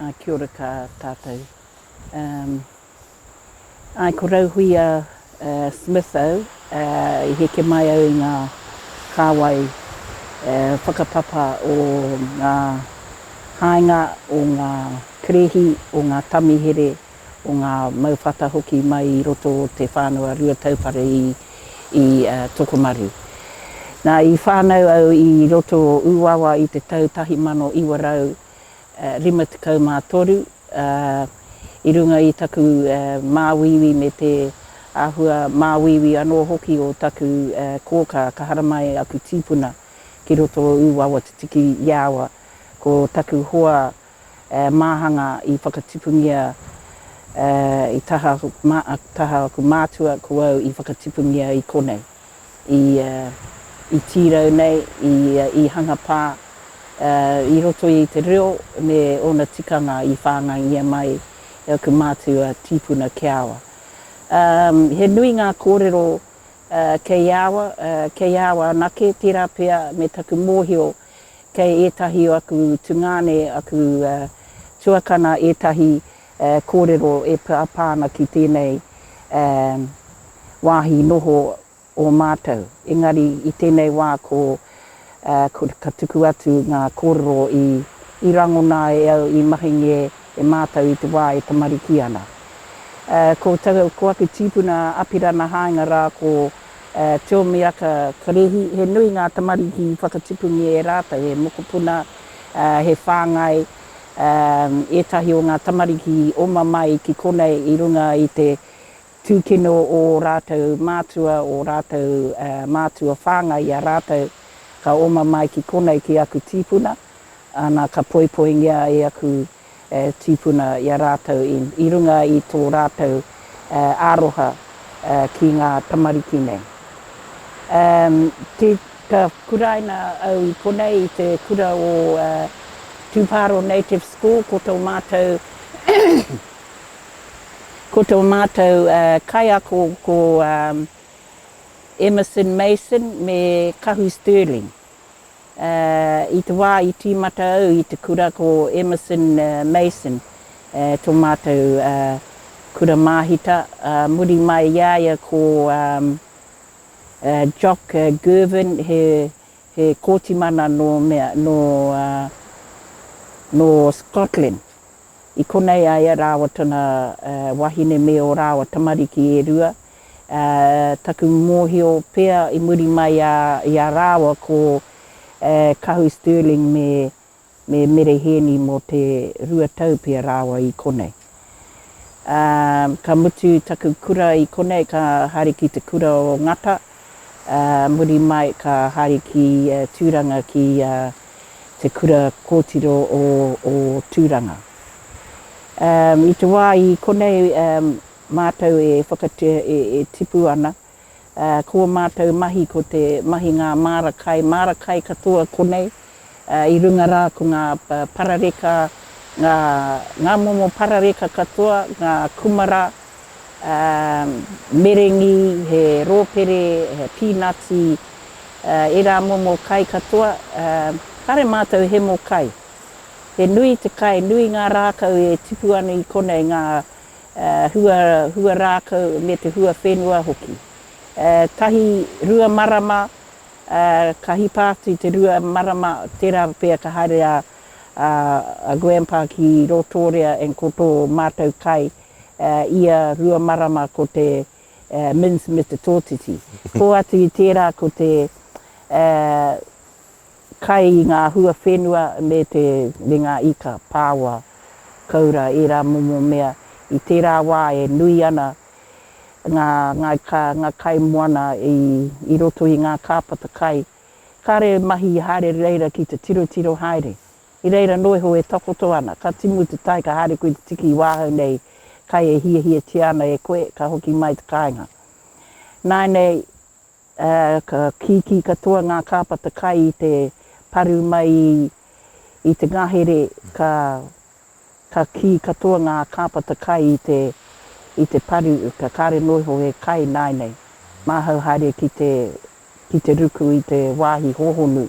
Ā, kia ora kā tātou. Um, āe, ko Rauhuia uh, Smith au, uh, i heke mai au i ngā kāwai uh, whakapapa o ngā haenga, o ngā kerehi, o ngā tamihere, o ngā mau whata hoki mai i roto o te whānau Rua Taupare i Tokomaru. Nā, i whānau au i roto o Ūawa i te tau 1953, ā, i runga i taku māuiui me te āhua māuiui anō hoki o taku kōkā ka haramai e aku tīpuna ki roto o Ūawa tutuki i a aua ko taku hoa Māhanga i whakatipungia i taha aku mātua ko au i whakatipungia i konei, i tīrau nei, i hanga pā, i roto i te reo me ōna tikanga i whāngaia mai e aku mātua tīpuna Keawa. He nui ngā kōrero kei awa, kei awa anake, tērā pea me taku mōhio. Kei ētahi o aku tungāne, aku tuakana ētahi kōrero e pāpā ana ki tēnei wāhi noho o mātou. Engari i tēnei wā ko ka tuku atu ngā kōrero i rangona e au i mahingi e mātou i te wā e tamariki ana. Ko aku tīpuna Apirana Haenga rā ko. Tiomiaka Karehi, he nui ngā tamariki i whakatipungia e rātou, he mokopuna, he whāngai, ētahi o ngā tamariki i oma mai ki konei i runga i te tūkino o ō rātou mātua, ō rātou mātua whāngai i a rātou ka oma mai ki konei ki aku tīpuna, ana ka poipoingia e aku tīpuna i a rātou i runga i tō rātou aroha ki ngā tamariki nei. Ka kuraina au i konei i te kura o Tūpāro Native School, ko tō mātou ko tō mātou kaiako ko Emerson Mason me Kahu Stirling. I te wā i tīmata au i te kura ko Emerson Mason tō mātou kura māhita, ā, muri mai i a ia ko Jock Girvin, he kōti mana nō mea, nō, ā, nō Scotland. I konei a ia rāua tana wahine me ō rāua tamariki e rua, Taku mōhio pea i muri mai i a rāua ko Kahu Stirling me Mere Hēni mō te rua tau pea rāua i konei. Ka mutu taku kura i konei ka haere ki te kura o Ngata, muri mai ka haere ki Tūranga ki te kura kōtiro o Tūranga. I te wā i konei Mātou e whakatea e tipu ana. Ko ō mātou mahi ko te mahi ngā māra kai, māra kai katoa konei, i runga rā ko ngā parareka, ngā momo parareka katoa, ngā kumara, merengi, he rōpere, he pīnati, ērā momo kai katoa. Kāre mātou hemo kai. He nui te kai, nui ngā rākau e tipu ana i konei, ngā. hua, hua rākau me te hua whenua hoki. Tahi, rua marama, ka hipa atu i te rua marama, tērā pea ka haere a, a, a Grandpa ki Rotorua and ko tō mātou kai, ia rua marama ko te, Minns Mr Tōtiti. Hoatu i tērā ko te, Kai ngā hua whenua me te me ngā ika, pāoa, koura, ērā momo mea i tērā wā e nui ana ngā ngāi kā, ngā kai moana i i roto i ngā kāpata kai. Kāre e mahi haere reira ki te tirotiro haere. I reira noa iho e takoto ana, ka timu te tai ka haere koe te tiki i wāhau nei kai e hiahiatia ana e koe ka hoki mai te kāinga. Nāinei Ka kīkī katoa ngā kāpata kai i te paru mai i te ngahere, ka, ka kī katoa ngā kāpata kai i te, i te paru, ka kāre noa iho he kai nāinei. Māhau haere ki te, ki te ruku i te wāhi hōhonu.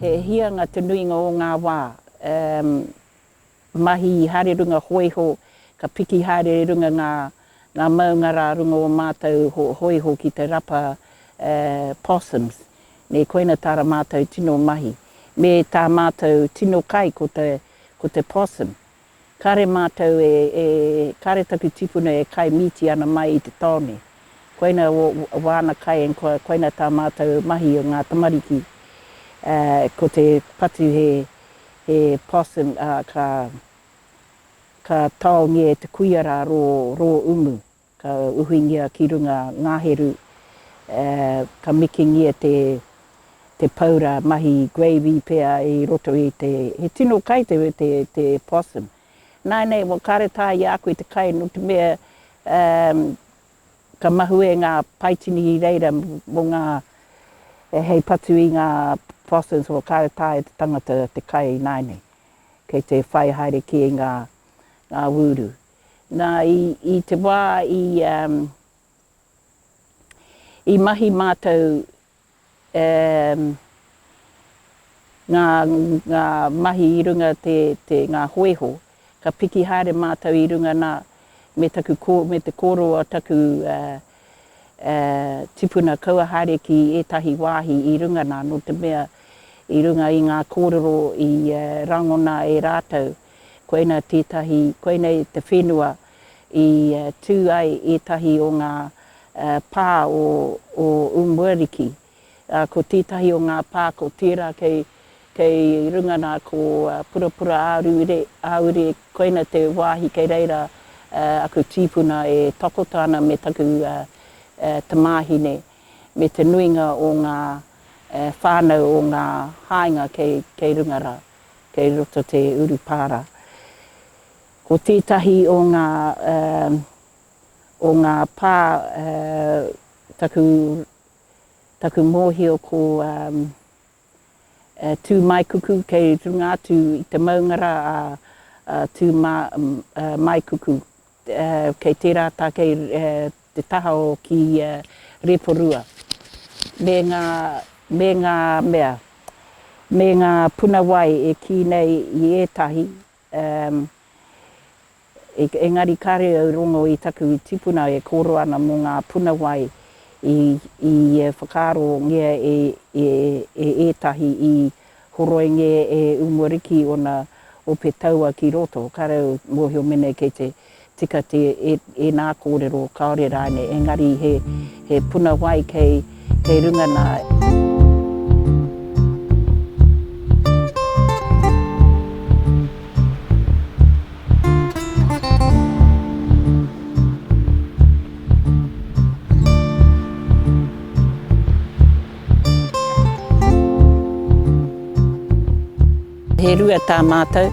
He hianga te nuinga o ngā wā. Mahi i haere runga hōiho, ka piki haere i runga ngā maunga rā runga o mātou hōiho ki te rapa possums. Nē, koina tā ra mātou tino mahi. Me tā mātou tino kai ko te possum. Kare matou e e kare taku tipuna e kai mīti ana mai i te taone. Koina wo wana kai and ko koina ta matou mahi o nga tamariki a ko te patu he he possum a ka ka taongia e te kuia ra ro ro umu. Ka uhingia ki runga ngaheru, ka mikingia te paura mahi gravy pea i roto i te, he tino kai te possum. Nainei, wa kare tae i a koe te kai no te mea ka mahue nga paitini i reira mo nga hei patu i nga possums wa kare tae te tangata te kai nainei kei te whai haere ki nga wuru. Na, i te wa i mahi matou nga mahi i runga te nga hoeho, ka piki haere matou i runga na me te kororo o taku tipuna kaua haere ki etahi wahi i runga na, no te mea i runga i nga kororo i rangona e ratou Koinā tētahi, koinei te whenua i tū ai ētahi o ngā pā o Umuariki. Ko tētahi o ngā pā ko tērā kei, kei runga nā ko Purapura Āruire, Āure, koina te wāhi kei reira aku tīpuna e takoto ana me taku tamāhine, me te nuinga o ngā whānau o ngā haenga kei, kei runga rā. kei roto te urupara. Ko tētahi o ngā o ngā pā taku taku mōhio ko Tūmaekuku kei runga atu i te maunga rā a Tūmaekuku kei tērā tākei te taha o ki ia Reporua, me nga, me nga mea, me nga puna wai e ki nei i etahi, um, engari kare au rongo i taku tipuna e koro ana mo nga puna wai i, i whakaaro ngia e, e, e etahi i Horoinge e umore ki ona ope taua ki roto, ka rau mohio menei kei te tika te ena korero kaore raine engari he puna wai kei kei runga na. He rua tā mātou,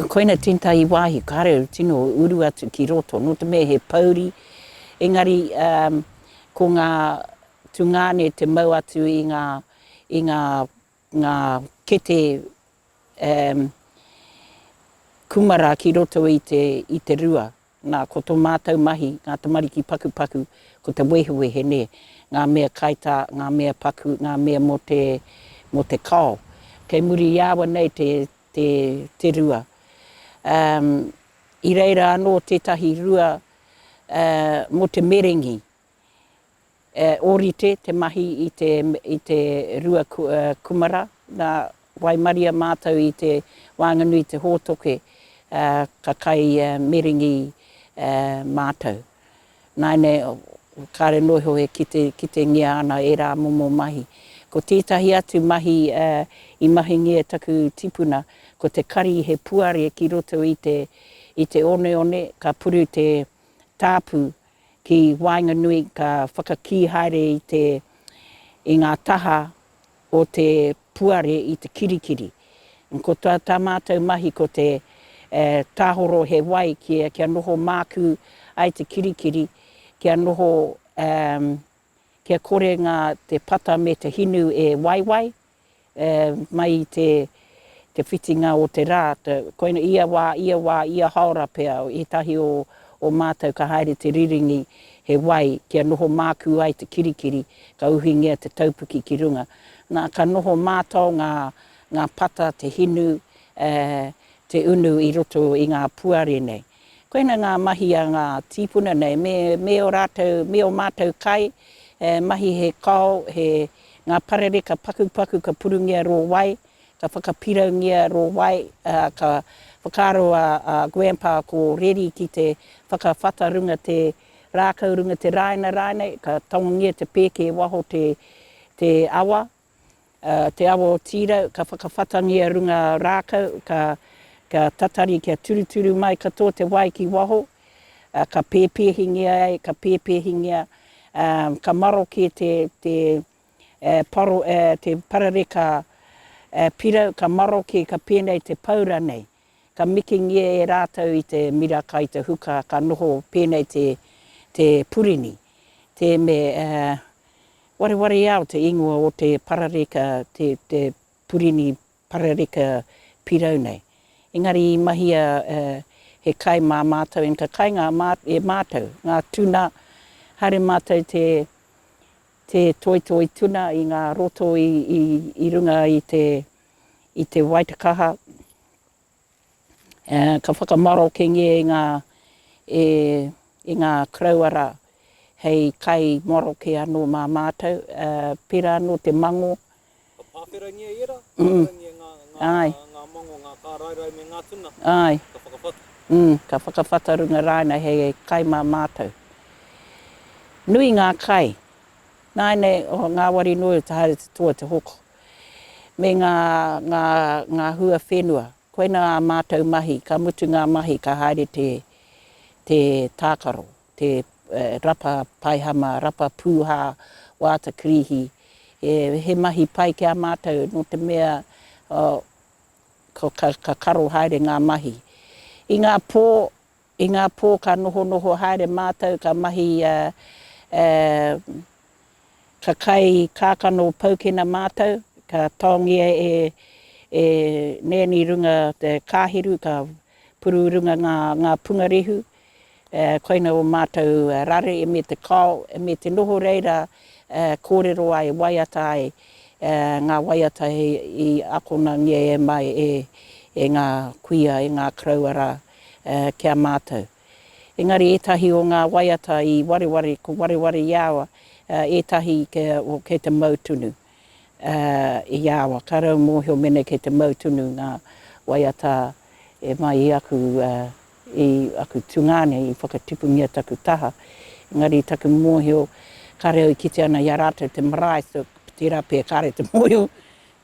koina Tin Tahi wāhi, kāre au tino uru atu ki roto, nō te mea he pouri, engari ko ngā tungāne te mau atu i ngā, i ngā ngā kete um kumara ki roto i te i te rua, nā ko to mātou mahi ngā tamariki pakupaku ko te wehewehe nē, ngā mea kaitā, ngā mea paku, ngā mea mō te mō te kao. Kei muri i awa nei te te te rua. Um i reira anō tētahi rua uh mō te merengi, E ōrite te mahi i te i te rua kumara, nā, waimaria mātou i te wānganui te hōtoke, ā, ka kai miringi mātou. Nāinei, kāre noa iho e kite, kitengia ana ērā momo mahi. Ko tētahi atu mahi i mahingia e taku tipuna, ko te kari he puare ki roto i te i te oneone, ka puru te tāpu Ki waenganui ka whakakī haere i te i ngā taha o te puare i te kirikiri. Ko tā tā mātou mahi ko te tāhoro he wai kia kia noho mākū ai te kirikiri, kia noho kia kore ngā te pata me te hinu e waiwai. mai i te whitinga o te rā, koinei ia wā, ia wā, ia haora pea, ētahi o mātou ka haere te riringi he wai kia noho mākū ai te kirikiri, ka uhingia te taupuki ki runga. Nā, ka noho mātao ngā pata, te hinu, te unu i roto i ngā puare nei. Koina ngā mahi a ngā tīpuna nei, me, me ō rātou, me ō mātou kai, e, mahi he kao, he, ngā parere ka pakupaku, ka purungia rō wai, ka whakapiraungia rō wai, ā, ka whakaaro a, a Grandpa ko Reri ki te whakawhata runga te rākau, runga te rāina rānei, ka tangongia te pēke waho te, te awa, Te awa o Tīrau, ka whakawhatangia runga rākau, ka tatari kia turuturu mai katoa te wai ki waho, ka pēpēhingia ai, ka pēpēhingia, ka maroke te parareka pirau, ka maroke, ka pēnei te paura nei. Ka mikingia e rātou i te mira kai te huka, ka noho pēnei te purini, tēnei Warewareao te ingoa o te parareka, te, te purini parareka pirau nei. Engari i mahia e, he kai mā mātou, and ka kai ngā mā, e mātou, ngā tuna, haere mātou te, te toitoi tuna i ngā roto i, i, i runga i te, i te Waitakaha, Ka whakamarokengia e ngā e ngā Krawara hei kai maroke anō mā mātou, pērā anō te mangō. Ka pāwherangia ērā, ka wharangia ngā ngā mangō, ngā kāraerae me ngā tuna, ka whakawhata. Ka whakawhata runga rānei hei kai mā mātou. Nui ngā kai. Nāinei, o ngāwari noa iho te haere te toa te hoko. me ngā, ngā, ngā hua whenua. Koina ā mātou mahi, ka mutu ngā mahi ka haere te, te tākaro, te rapa paihama, rapa pūhā, wāta kirīhi. He, he mahi pai ki a mātou nō te mea ka, ka karo haere ngā mahi. I ngā pō I ngā pō ka nohonoho haere mātou ka mahi i a Ka kai kākano paukena mātou, ka taongia e e Nēni runga te kāhiru ka puru i runga ngā ngā pungarehu koina o mātou rare me te kao me te noho reira kōrero ai waiata ai ngā waiata i akonangia e mai e e ngā kuia e ngā karaua rā ki a mātou. Engari ētahi o ngā waiata i wareware, ko wareware i awa, ētahi kei te mau tunu i awa. Ka rau mōhio mēnei kei te mau tunu ngā waiata e mai i aku, i aku tungāne, i whakatipungia taku taha. Engari taku mōhio, kāre au i kite ana i a rātou te marae, tērā pea kāre te mōhio.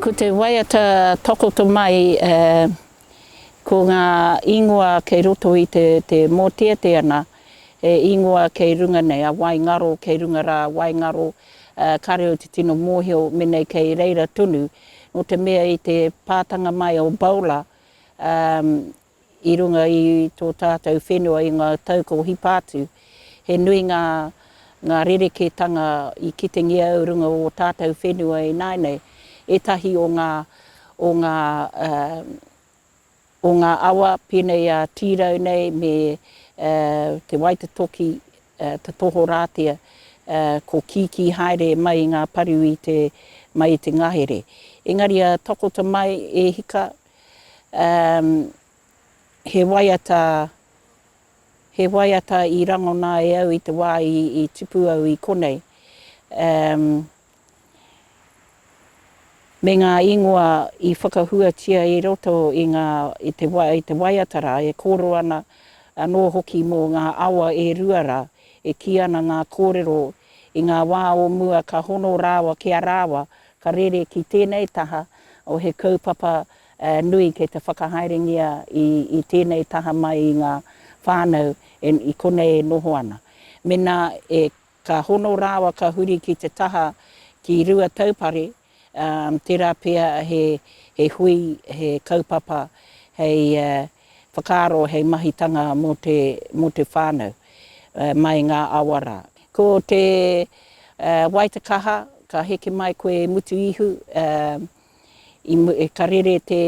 Ko te waiata takoto mai ko ngā ingoa kei roto i te mōteatea ana, he ingoa kei runga nei, a waingaro kei runga rā, waingaro, ka reo te tino mōhio menei kei reira tonu, nō te mea i te pātanga mai o Bowler, I runga i tō tātou whenua i ngā tau kua hipa atu, he nui ngā ngā rerekētanga i kitengia au runga o tātou whenua e nāinei. Ētahi o ngā o ngā o ngā awa pēnei a Tīrau nei me Te Waitatoki, Te Tohorātia, ko Kīkī haere mai i ngā paru i te mai i te ngahere. Engari a Tokota mai e hika, Um, he waiata, he waiata i rangona e au i te wā i, i tipu au i konei. Um, me ngā ingoa i whakahuatia i roto i, ngā, i, te, i te waiata rā, e kōrero ana anō hoki mō ngā awa e rua rā, e kī ana ngā kōrero i ngā wā o mua ka hono rāwa ki a rāwa Ka rere ki tēnei taha o he kaupapa nui kei te whakahaerengia i tēnei taha mai i ngā whānau i konei e noho ana. Mēnā ka hono rāwa ka huri ki te taha ki Ruataupare, tērā pea he hui, he kaupapa hei Whakaaro hei mahitanga mō te, mō te whānau, mai ngā awa rā. Ko te, wai te kaha, ka heke mai koe e mutu ihu, ka rere te,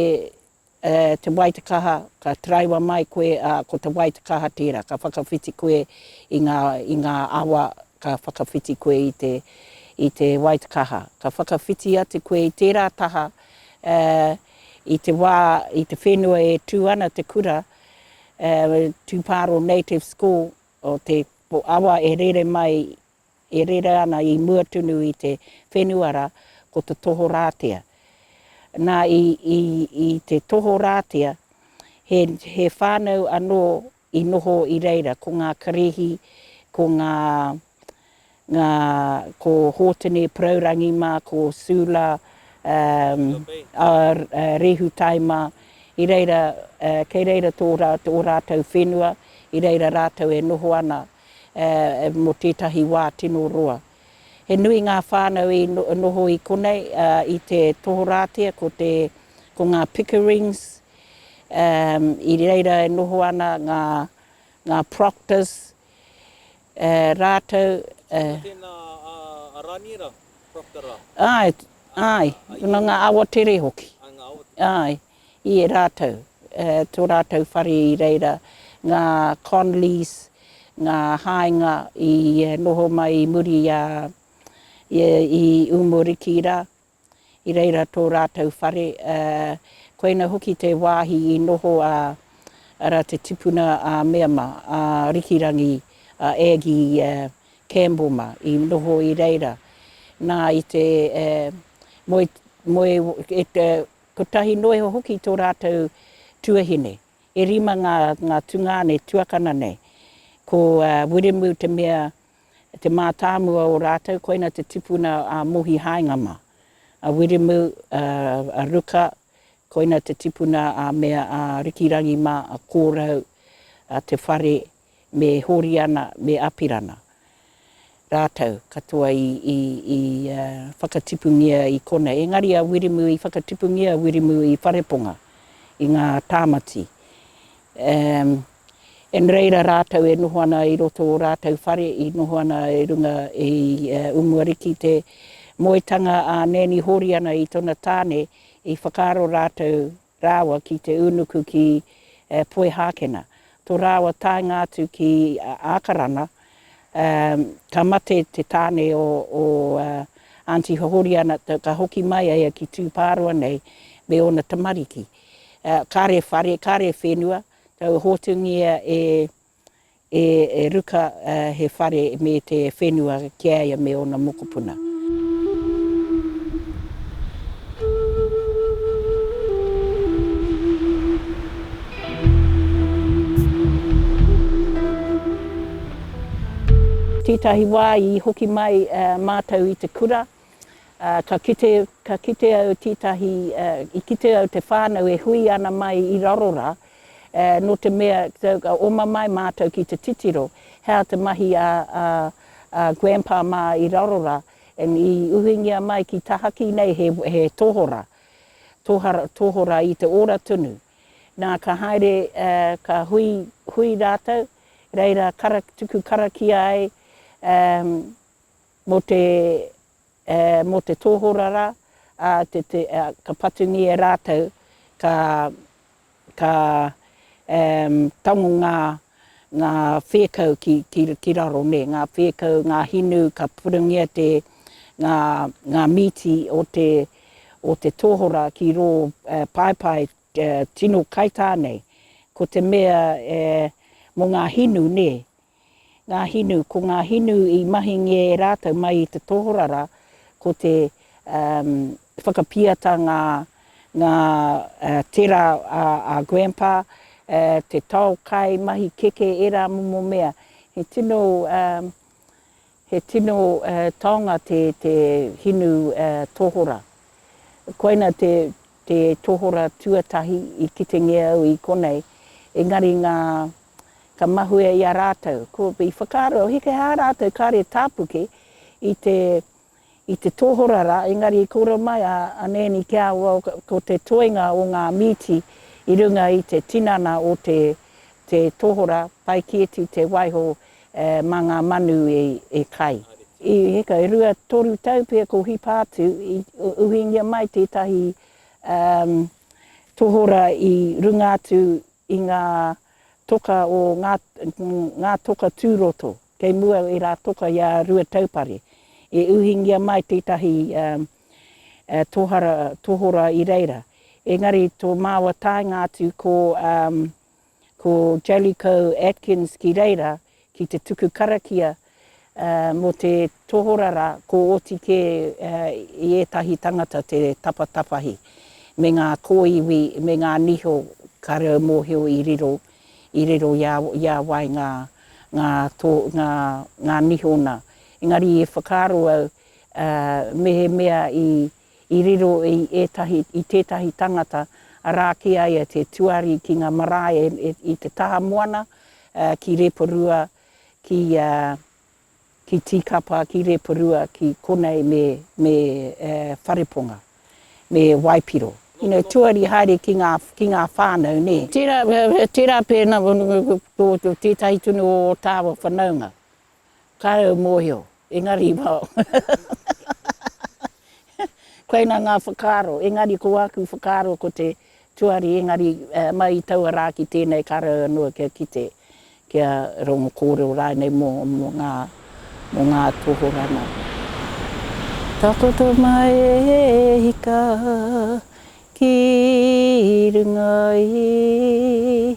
te wai te kaha, ka taraiwa mai koe, ā, ko te wai te kaha tērā, ka whakawhiti koe i ngā, i ngā awa, ka whakawhiti koe i te, i te wai te kaha. Ka whakawhiti atu koe i tērā taha, I te wā, i te whenua e tū ana te kura, Tūpāro Native School, o te awa e rere mai, e rere ana i mua tunu i te whenua rā, ko te tohorātea. Nā, i te tohorātea, he whānau anō I noho i reira ko ngā Karihi, ko ngā, ngā, ko Hōtene Porourangi mā, ko Sula, ā, ā, Rehutai mā, i reira, ā, kei reira tō rā, ō rātou whenua, i reira rātou e noho ana, ā, mō tētahi wā tino roa. He nui ngā whānau i noho i konei, ā, i te tohorātia ko te, ko ngā Pickerings, i reira e noho ana ngā, ngā proctors, ā, rātou, ā. Ko tēnā a, a Rāniera, Proctor rā? Āe, āe, nō ngā awatere hoki. Ā, ngā awatere. Āe, i e rātou, ā, tō rātou whare i reira, ngā Conleys, ngā haenga i noho mai i muri i a, i, i Umoriki rā. I reira tō rātou whare, ā, koina hoki te wāhi i noho a, arā, te tipuna a Meama, a Rikirangi, a Aggie Kamboma, i noho i reira. Nā, i te, ā, moe, moe, e, e, kotahi noa iho hoki tō rātou tuahine. E rima ngā, ngā tungāne tuakana nei. Ko, ā, Wiremu te mea te mātāmua o rātou, koina te tipuna a Mohi Haengama, a Wiremu, a Ruka, koina te tipuna a Mea, a Rikirangi mā, a Kōrau, a Te Whare, me Hōriana, me Apirana. Rātou katoa i whakatipungia i konei. Engari a Wiremu i whakatipungia, Wiremu i Whareponga, i ngā tāmati. Umm. E no reira rātou e noho ana i roto ō rātou whare i noho ana i runga i Umuariki te moetanga a Nēni Hōriana i tona tāne i whakaaro rātou rāua ki te ūnuku ki Poihākena to rāua taenga atu ki Ākarana ka mate te tāne o Aunty Hōriana ka hoki mai a ia ki Tūpāroa nei me ōna tamariki kare whare kare whenua Kau hotungia e e e ruka he whare me te whenua ki a ia me ona mokopuna. Tetahi wa i hoki mai matou i te kura Ā, ka kite, ka kite au tītahi, ā, i kite au te whānau e hui ana mai i raro rā, ā, nō te mea, ka oma mai mātou ki te titiro, he aha te mahi a, a, a Grandpa mā i raro rā, and i uhingia mai ki tahaki nei he, he tohora, tohara, tohora i te ora tonu. Nā, ka haere, ā, ka hui, hui rātou, reira kara, tuku karakia ai, ā, Mō te, ā, mō te tōhora rā, ā, te, te, ā, ka patungia rātou, ka, ka, ā, tango ngā, ngā whēkau ki, ki, ki raro, nē, ngā whēkau, ngā hinu, ka purungia te, ngā, ngā mīti o te, o te tōhora ki rō, ā, paepae, ā, tino kaitā nei. Ko te mea, ā, mō ngā hinu, nē, Ngā hinu, ko ngā hinu i mahingia e rātou mai i te tohorara, ko te whakapiata ngā ngā tera a grandpa, te tao kai, mahi keke, ērā momo mea. He tino he tino taonga te te hinu tohora. Koina te te tohora tuatahi i kitengia au i konei, engari ngā Ka mahue i a rātou, ko, i whakaaro, heke hā rātou kāre tāpuke i te, i te tohora rā, engari i kōrero mai a, a Nēni ki a au, ko te toenga o ngā mīti i runga i te tinana o te, te tohora, pai kēti te waiho e, mā ngā manu e, e kai. I heka e rua, toru tau pea ko Hipātu, i uhingia mai tētahi, um, tohora i runga atu i ngā toka o ngā, ngā toka tūroto, kei mua i ērā toka i a Ruataupare, e uhingia mai tētahi tohara, tohora i reira. Engari tō māua taenga atu ko, ko Jellicoe Atkins ki reira, ki te tuku karakia mō te tohora rā, ko oti kē i ētahi tangata te tapatapahi me ngā kōiwi me ngā niho ka reo mōhio i riro, i riro i a wai ngā, ngā tō, ngā, ngā niho nā. Engari i whakaaro au mehemea i. i riro i ētahi, i tētahi tangata, arā, ki a ia te tuari ki ngā marae i te taha moana, ki Reporua, ki, ki Tīkapa, ki Reporua, ki konei me, me Whareponga, me Waipiro. You know, tuari haere ki ngā, ki ngā whānau, nē. Tērā, tērā pēnā, ko tētahi tunu o tāua whanaunga. Kāre au mōhio, engari i wao. Koina ngā whakaaro, engari ko āku whakaaro ko te tuari, engari mai i taua rā ki tēnei kāre au anō kia kite, kia rongo kōrero rānei mō ngā, mō ngā tohorā nā. Takoto mai e hika ki runga i